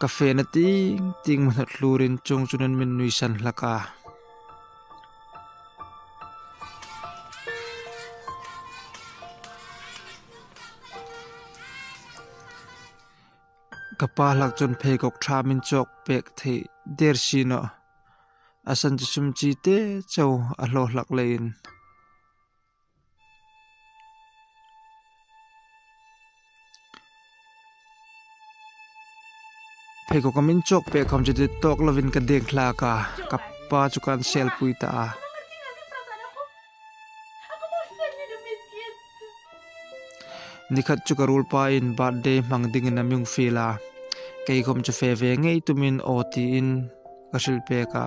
Ka fena ting ting ma hnawt hlur in chawng chu nan min nui san hlak a. Ka pa hlak chuan pheikhawk tha min chawk pek theih der si nawh. A san chi sum chi te chauh a hlawh hlak leh in. Pheikhawk ka min chawk piah kham chu tawk lovin ka dek hlak a, ka pa chu ka ansialpui ta a. Nikhat chu ka rul pain birthday hmang dingin a miung fil a, kei khawm chu fe ve ngei tumin aw tiin ka hrilh pek a.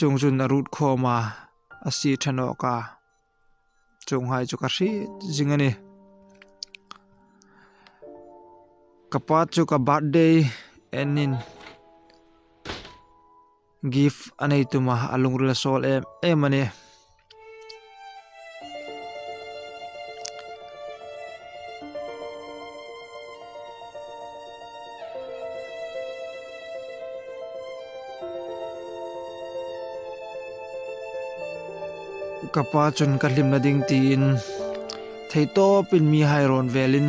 Chung zun a rut kho ma a si than awk a, chung hai chu ka hriat zing a ni. Ka pa chu ka birthday enin Gift a nei tum a, a lungrel a sawl em em a ni. ka pa chun ka hlimna ding tiin thei tawpin mi hai rawn velin.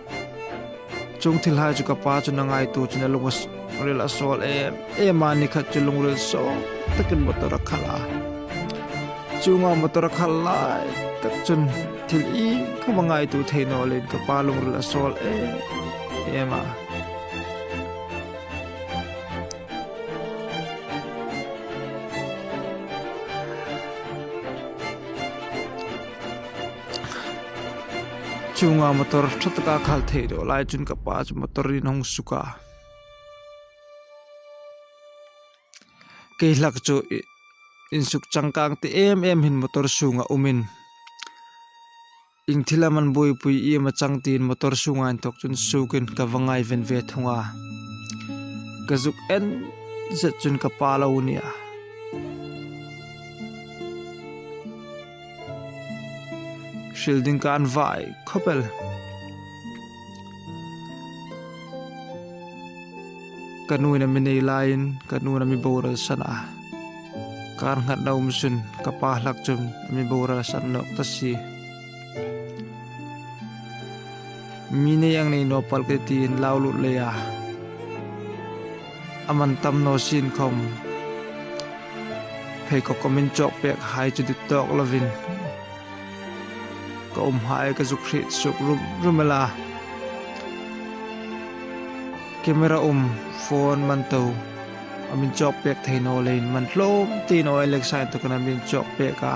Chung thil hai chu ka pa chu na ngai tur chu na lunga ril a sual em em a ni khat chu lungril sawm takin motor a khalh a. Chunga motor a khal lai tak chun thil i kha ma ngai tur thei nawlin ka pa lungril a sual em em a. chunga motor tha taka khal theih duh lai chuan ka pa chu motor in a hawng suk a kei hlak chu ih insuk changkang te em em in motor chhungah awm in eng thil a man buaipui i emaw chang tiin motor chhungah a inthawk chuan suk in ka va ngai ven ve thung a ka zuk en zet chuan ka pa lo a ni a. Hril ding ka an vai khawpel. Ka nuin a mi nei laiin ka nuna mi boral san a. Kar ngat na um sun ka pa hlak chun mi boral san nok ta si. Mi nei ang nei no pal ke tin lau lut lei a. A man tam no sin khawm. Pheikhawk awmin chawk pek hai chu dik tawk lovin ka awm hae ka zuk hrih suk rum rum e la. Camera awm phone man to a min chawk pek thei nawlein man hlawm tiin aw Alexa in tu ka na min chawk pek a.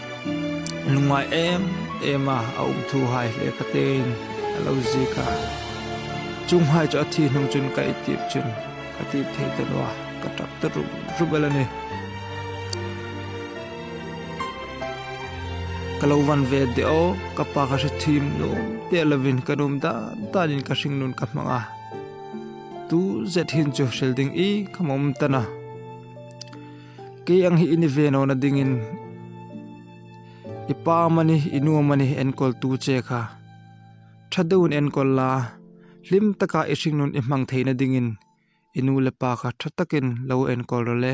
Nungai em em a a awm thu hai hle kha tein a lo zik a. Chung hai chu a thi hnung chun ka i tip chun ka tip thei ta lo a, ka ṭap ta rup rup alh a ni. Ka lo van ve deuh, ka pa ka hre thim nuam teh lovin ka num dan danin ka hring nun ka hmang a. Tuzet hin chu hril ding i ka mawm tan a. Kei ang hi i ni ve nawna dingin i pa mani i nu mani enkawl tu che kha tha deuhin enkawl la, hlim taka i hringnun i hmang theihna dingin i nu leh pa kha tha takin lo enkawl rawh le.